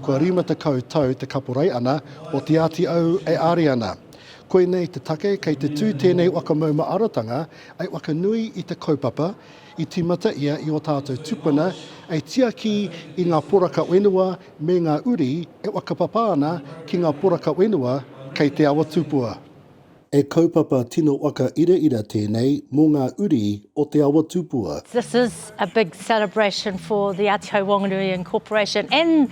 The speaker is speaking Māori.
Kua rima tekau tau te kaporai ana o Te Āti Au e Ari ana. Koinei te take kei te tū tēnei waka mauma arotanga ai waka nui i te kaupapa I tīmata ia i ō tātou tupuna e tiaki i ngā poraka whenua me ngā uri e whakapapa ana ki ngā poraka whenua kei Te Awa Tupua. He kaupapa tino waka iraira tēnei mō ngā uri o Te Awa Tupua. This is a big celebration for the Āti Hau Whanganui Incorporation and